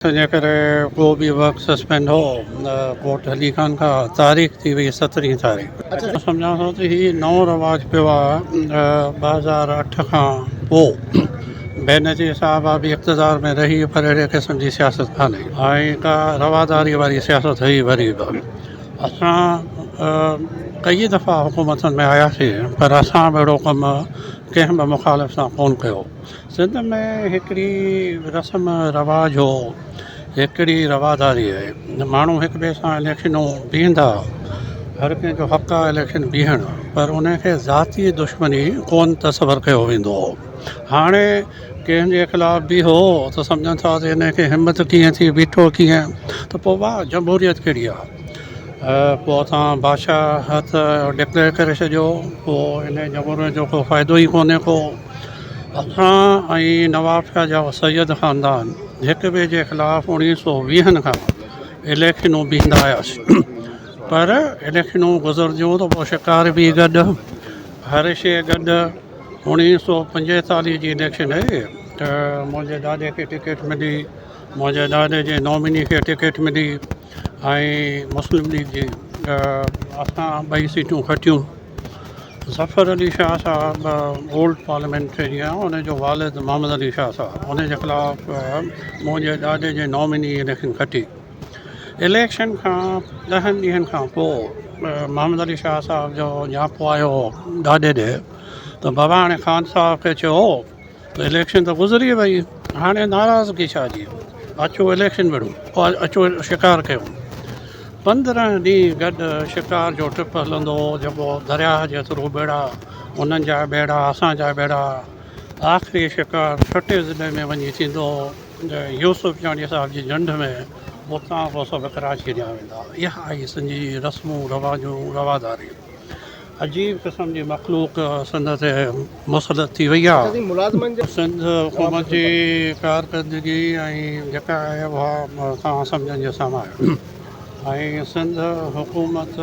تنهنجي ڪري ڪو به ورڪ سسپينڊ هو نه ڪورٽ هلي ڪانه ڪا تاريخ ٿي وئي سترهين تاريخ مان سمجهان ٿو ته هي نئون رواج پيو آ ٻه هزار اٺ کان پو بينظير صاحب آ به اقتدار ۾ رهي پر اهڙي قسم جي سياست ڪانهي ۽ ڪا رواداري واري سياست هئي وري به اسان ڪيئي دفعا حڪومتن ۾ آياسين پر اسان به اهڙو ڪم ڪنهن به مخالف سان ڪونه ڪيو سنڌ ۾ هڪڙي رسم رواج هو هڪڙي رواداري هئي ماڻهو هڪ ٻئي سان اليڪشنون بيهندا هر ڪنهن جو حق آهي اليڪشن بيهڻ پر ان کي ذاتي دشمني ڪون تصور ڪيو ويندو هو هاڻي ڪنهن جي خلاف بيهو ته سمجهن ٿا ته ان کي همت ڪيئن ٿي بيٺو ڪيئن ته پوء واهه جمهوريت ڪهڙي آهي پوء اسان بادشاهت ڊڪليئر ڪري ڇڏيو پوء ان جمهوريت جو ڪو فائدو ئي ڪونهي ڪو اسان ۽ نوابشاهه جا سيد خاندان هڪ ٻئي جي خلاف اڻيهه سو ويهن کان اليڪشنون بيهندا هياسين پر اليڪشنون گذرنديون ته پوء شڪار بي گڏ هر شيء گڏ اڻيهه سو پنجيتاليهه جي اليڪشن هئي ته منهنجي ڏاڏي کي ٽڪيٽ ملي منهنجي ڏاڏي جي نامني کي ٽڪيٽ ملي ۽ مسلم ليگ جي اسان ٻئي سيٽون کٽيون ظفر علي شاهه صاحب اولڊ پارليامينٽرينيان ان جو والد محمد علي شاهه صاحب ان جي خلاف منهنجي ڏاڏي جي ناميني اليڪشن کٽي اليڪشن کان ڏهن ڏينهن کان پوء محمد علي شاهه صاحب جو نياپو آيو هو ڏاڏي ڏي ته بابا هاڻي خان صاحب کي چئو ته اليڪشن ته گذري وئي هاڻي ناراضگي ڇا جي اچو اليڪشن وڙهون اچو شڪار ڪيون پندرهن ڏينهن گڏ شڪار جو ٽپ هلندو هو جيڪو درياهه جي ٿرو ٻيڙا انهن جا ٻيڙا اسان جا ٻيڙا آخري شڪار ٺٽي ضلعي ۾ وڃي ٿيندو هو يوسفياڻي صاحب جي جنڊ ۾ اتان پوء سڀ ڪراچي ڏانهن ويندا اها هئي سنڌ جي رسمون رواجون رواداريون عجيب قسم جي مخلوق سنڌ تي مسلط ٿي وئي آهي. سنڌ حڪومت جي ڪارڪردگي ۽ جيڪا آهي اها توهان سمجهن جي سامهون آهي ۽ سنڌ حڪومت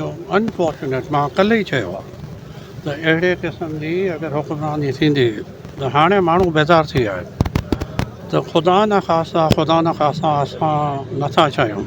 جو انفارچونيٽ مان ڪلهه ئي چيو آهي ته اهڙي قسم جي اگر حڪمراني ٿيندي ته هاڻي ماڻهو بيزار ٿي ويا آهن ته خدا نه خاصا خدا نه خاصا اسان نٿا چاهيون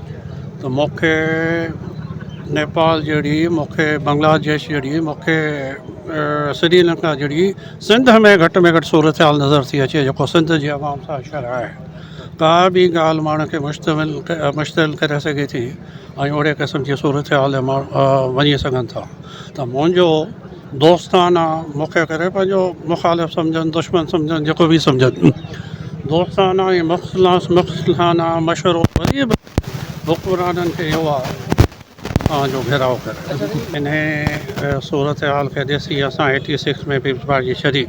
ته مونکي نيپال جهڙي مونکي بنگلا ديش جهڙي مونکي سري لنڪا جهڙي سنڌ ۾ گهٽ ۾ گهٽ صورتحال نظر ٿي اچي جيڪو سنڌ جي عوام سان شرح آهي ڪا به ڳالهه ماڻهن کي مشتمل مشتعل ڪري سگهي ٿي ۽ اهڙي قسم جي صورتحال ماڻهو وڃي سگهن ٿا ته منهنجو دوستاڻا مکيه ڪري پنهنجو مخالف سمجهن، دشمن سمجهن، جيڪو به سمجهن. دوستاڻا ۽ مخلصانه مشورو وري به حڪمرانن کي اهو آهي ته اوهان جو گهيراء ڪري. انهيء صورتحال کي ڏسي اسان ايٽي سڪس ۾ پيپلز پارٽي ڇڏي.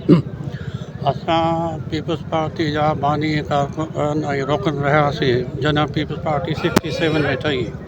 اسان پيپلز پارٽي جا باني ڪارڪن ۽ رڪن رهياسين جڏهن پيپلز پارٽي سڪسٽي سيون ۾ ٺهي.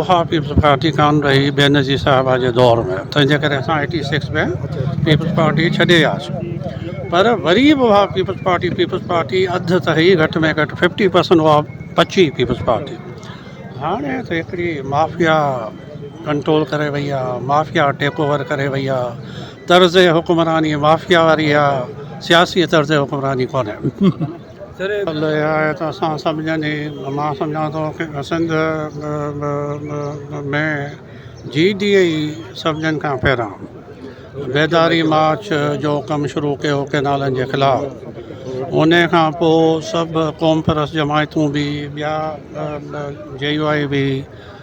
اها پيپلز پارٽي ڪانه رهي بينظير صاحبه جي دور ۾ تنهن جي ڪري اسان ايٽي سڪس ۾ پيپلز پارٽي ڇڏي وياسين پر وري به اها پيپلز پارٽي پيپلز پارٽي اڌ ته هئي گهٽ ۾ گهٽ ففٽي پرسنٽ اها بچي پيپلز پارٽي هاڻي ته هڪڙي مافيا ڪنٽرول ڪري وئي آهي مافيا ٽيڪ اوور ڪري وئي آهي طرز حڪمراني مافيا واري آهي سياسي طرز حڪمراني ڪونهي الله اها آهي ته اسان سڀ ڄڻي مان سمجهان ٿو سنڌ ۾ جي ڊي اي سڀ ڄڻ کان پهريان بيداري مارچ جو ڪم شروع ڪيو ڪينالن جي خلاف ان کان پوء سڀ قوم پرست جماعتون بي ٻيا جي يو آئي بي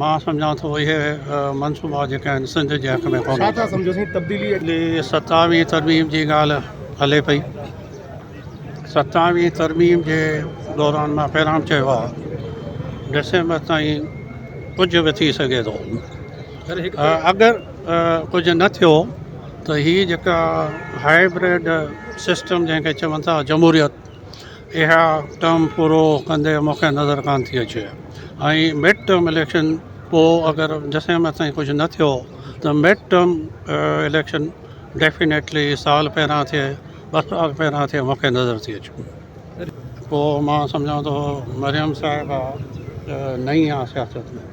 مان سمجهان ٿو اهي منصوبا جيڪي آهن سنڌ جي حق ۾ ڪونهن. ڇا ٿا سمجهو سائين تبديلي جي. ستاويهين ترميم جي ڳالهه هلي پئي ستاويهين ترميم جي دوران مان پهريان چيو آهي ڊسمبر تائين ڪجهه به ٿي سگهي ٿو اگر ڪجهه نه ٿيو ته هي جيڪا هائبرڊ سسٽم جنهن کي چون ٿا جمهوريت اها ٽرم پورو ڪندي مون کي نظر ڪانه ٿي اچي ۽ مڊ ٽرم اليڪشن پوء اگر جسيم تائين ڪجهه نه ٿيو ته مڊ ٽرم اليڪشن ڊيفينيٽلي سال پهريان ٿئي ٻه سال پهريان ٿئي مون کي نظر ٿي اچي پوء مان سمجهان ٿو مريم صاحبه نئين آهي سياست ۾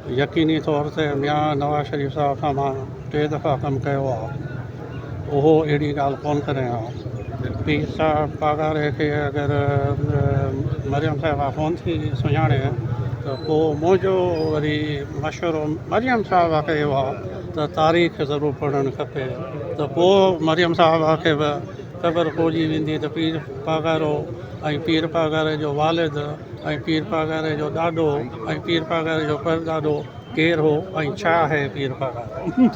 يقيني طور تي ميان نواز شريف صاحب سان مان ٽي دفعا ڪم ڪيو آهي اهو اهڙي ڳالهه ڪون ڪري ها پير صاحب پاڳاري کي اگر مريم صاحبا ڪون ٿي سڃاڻي ته پوء منهنجو وري مشورو مريم صاحبا کي اهو آهي ته تاريخ ضرور پڙهڻ کپي ته پوء مريم صاحبا کي به خبر پئجي ويندي ته پير پاڳارو ۽ پير پاڳاري جو والد ۽ پير پاڳاري جو ڏاڏو ۽ پير پاڳاري جو پرڏاڏو ڪير هو ۽ ڇا آهي پير پاڳارو؟